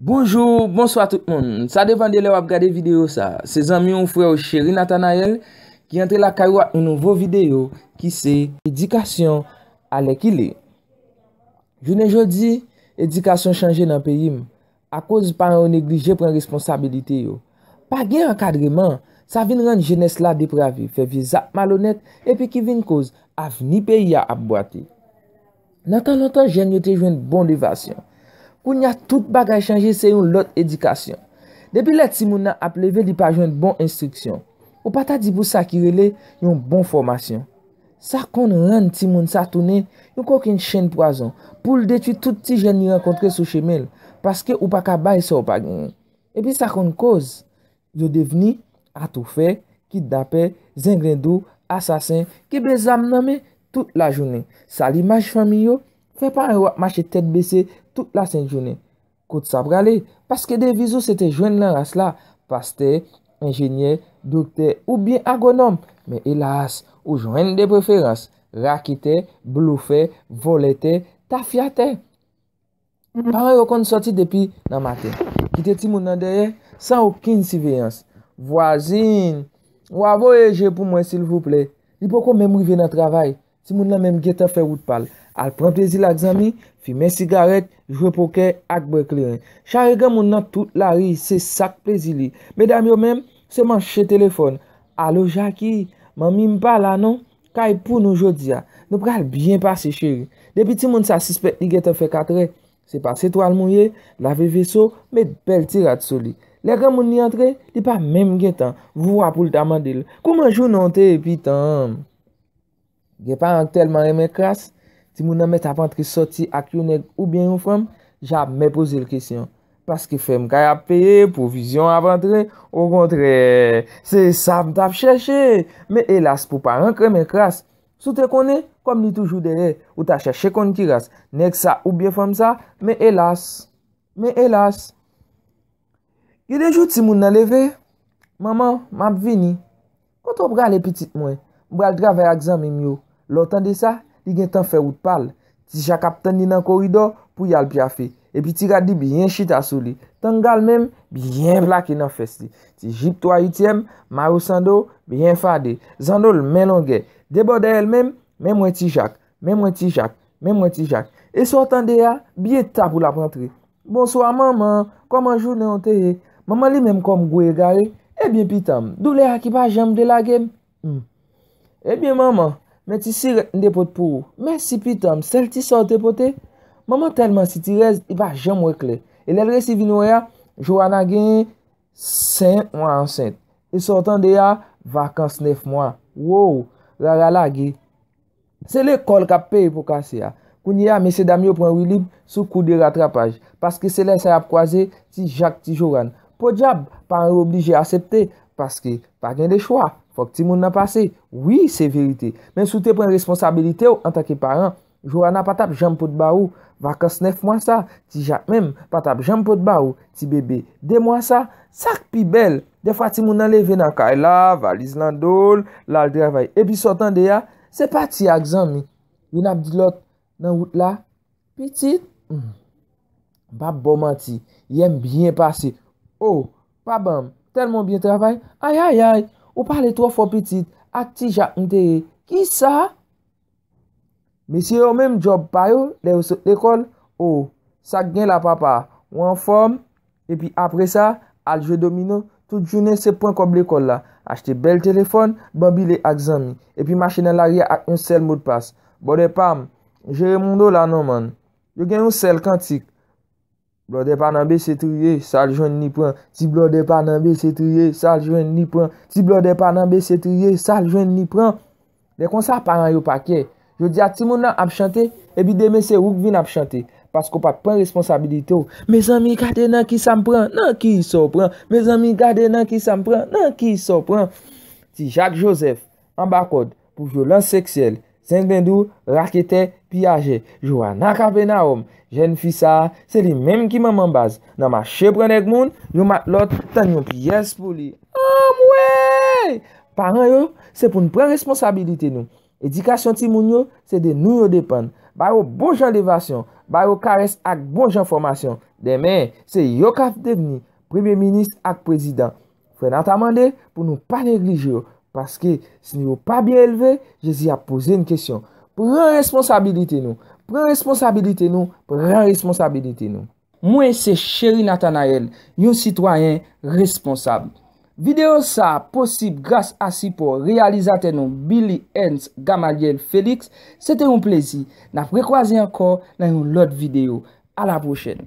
Bonjou, bonswa tout moun. Sa depan de lè wap gade videyo sa. Se zanmi ou frè ou Cheri Nathanaël ki antre lakay ou ak yon nouvo videyo ki se Edikasyon alèkile. Jounen jodi, edikasyon chanje nan peyi m. Akoz paran yo neglije pran responsabilite yo. Pa gen ankadreman, sa vin rann jenès la deprave, fè vye zak malonèt epi ki vin koz avni peyi a ap bwate. Nan tan lontan jèn yo te jwenn bon devasyon. Kounye a tout bagay chanje se yon lòt edikasyon. Depi lè timoun nan ap leve li pa jwenn bon enstriksyon. Ou pa ta di pou sa ki rele yon bon fòmasyon. Sa konn rann timoun sa tounen yon kokenn chenn pwazon pou l detwi tout ti jèn li rankontre sou chemen l paske ou pa ka bay sa w pa genyen. Epi sa konn koz Yo devni atoufè, kidnapè, zenglendo, asasen, kenbe zam nan men tout lajounen. Sal imaj fanmi yo, fè paran yo ap mache tèt bese tout lasent jounen. Kot sa prale? Paske deviz ou se te jwenn nan ras la, pastè, enjenyè, doktè oubyen agwonòm. Men elas, ou jwenn de preferans, raketè, blofè, vòlè tè, tafyatè. Paran yo konn sòti depi nan maten, kite timoun nan dèyè san okenn siveyans. Vwazin, wa voye je pou mwen silvouplè. Li poko menm rive nan travay, timoun nan menm gentan fè wout pa l, al pran plezi l ak zanmi, fimen sigarèt, jwe pokè ak bwè kleren. Chare granmoun nan tout lari, se sa k plezi li. Medam yo menm, se manche telefòn. Alo Jaki, manmi m pa la non, Kay pou nou jodia. Nou pral byen pase cheri. Depi timoun sa sispèk li gentan fè katrè, se pase twal mouye, lave veso, met bèl ti rad sou li. Lè granmoun li antre, li pa menm gentan voua pou l ta mande l, kouman jounen w te ye pitanm? Gen paran k tèlman renmen kras, timoun nan mèt ap antre soti ak yon nèg oubyen yon fanm, jamè poze l kesyon. Paske fèm kay ap peye, pwovizyon ap antre, okontrè, se sa m t ap chèche! Men elas pou paran kremen kras! Si w te konnen, kòm li toujou dèyè, ou ta chèche konn ki ras, nèg sa oubyen fanm sa, men elas! Men elas! Gen de jou timoun nan leve, Manman, m ap vini! Kote w prale pitit mwen? M pral travay ak zanmi m yo. Lè w tande sa, li gen tan fè wout pa l. Ti Jak ap tann li nan koridò pou y al pyafe. Epi ti rad li byen chita sou li. Tanga l menm, byen plake nan fès li. Ti jip twa ityèm, mayo sando, byen fade. Zando l men longè. De bò dèyè l menm, men mwen ti Jak, men mwen ti Jak, men mwen ti Jak. E sa w tande a? Byen ta pou l ap antre. Bonswa manman, kòman jounen w te ye? Manman li menm kòm gwo egare, Ebyen pitan m, doulè a ki pa janm vle lage m? M, Ebyen manman, men ti sirèt m te pot pou ou. Mèsi pitan m, sèl ti sa w te pote? Manman tèlman sitirèz, li pa janm wè klè. E lè l resi vin wè a, Joana gen 5 mwa ansent. E sa w tande a, vakans 9 mwa. Woww, Rara lage. Se lekòl kap peye pou kase a. Kounye a mesye dam yo pran wilib sou kou de ratrapaj. Paske se lè sa yap kwaze ti jak ti joran. Podyab, paran yo oblije asepte. Paske pa gen de chwa. Fòk ti moun nan pase. Wi se verite. Men sou te pran responsabilite w antanke paran. Joana pa tap janm pot ba ou. Vakans 9 mwa sa. Ti jak menm pa tap janm pot ba ou. Ti bebe 2 mwa sa. Sak pi bèl. Defwa timoun nan leve nan kay la, valiz lan do l, l al travay. Epi sa w tande a, se pati ak zanmi. Youn ap di lòt nan wout la, Pitit, m pap ba w manti, yè m byen pase. O, pa ban m, tèlman w byen travay. Ayayay, ou pale twò fò pitit, ak ti ja m te ye. Kisa? Mesye yo menm djòb pa yo lè yo sot lekòl, o, sa k gen la papa, ou anfòm? Epi apresa, al jwe domino, tout jounen se pran kòb lekòl la, achte bèl telefòn, banbile ak zanmi, epi mache nan lari a ak yon sèl modpas. Bòdè pa m, jere moun w la non man. Yo gen yon sèl kantik. Blòdè pa nan bese triye, sa l jwenn li pran. Ti blòdè pa nan bese triye, sa l jwenn li pran. Ti blòdè pa nan bese triye, sa l jwenn li pran. Lè konsa paran yo pa kè. Jodi a timoun nan ap chante, epi demen se ou k vin ap chante. Paske w pa t pran responsabilite w. Mezanmi gade nan kisa m pran, nan kisa w pran. Mezanmi gade nan kisa m pran, nan kisa w pran. Ti Jak Jozèf, Anba kòd pou vyolans seksyèl, zenglendou, raketè, piyajè, Johanna Capernaum, jèn fi sa a, se li menm ki manman baz nan mache pran nèg moun, yon matlòt tann yon pyès pou li. Anmweyy! Paran yo, se pou n pran responsabilite nou. Edikasyon timoun yo, se de nou yo depann. Ba yo bon jan levasyon, ba yo karès ak bon jan fòmasyon. Demen, se yo k ap devni Premye minis ak prezidan. Frè Nathan mande pou nou pa neglije yo, paske si yo pa byen elve, Jezi ap poze n kesyon. Pran responsabilite nou! Pran responsabilite nou! Pran responsabilite nou! Mwen se Chery Nathanaël, yon sitwayen responsab. Videyo sa a posib gras a sipò reyalizatè nou Billy Ernst Gamaliel Felix. Se te yon plezi. N ap rekwaze ankò nan yon lòt videyo. A la pwochèn!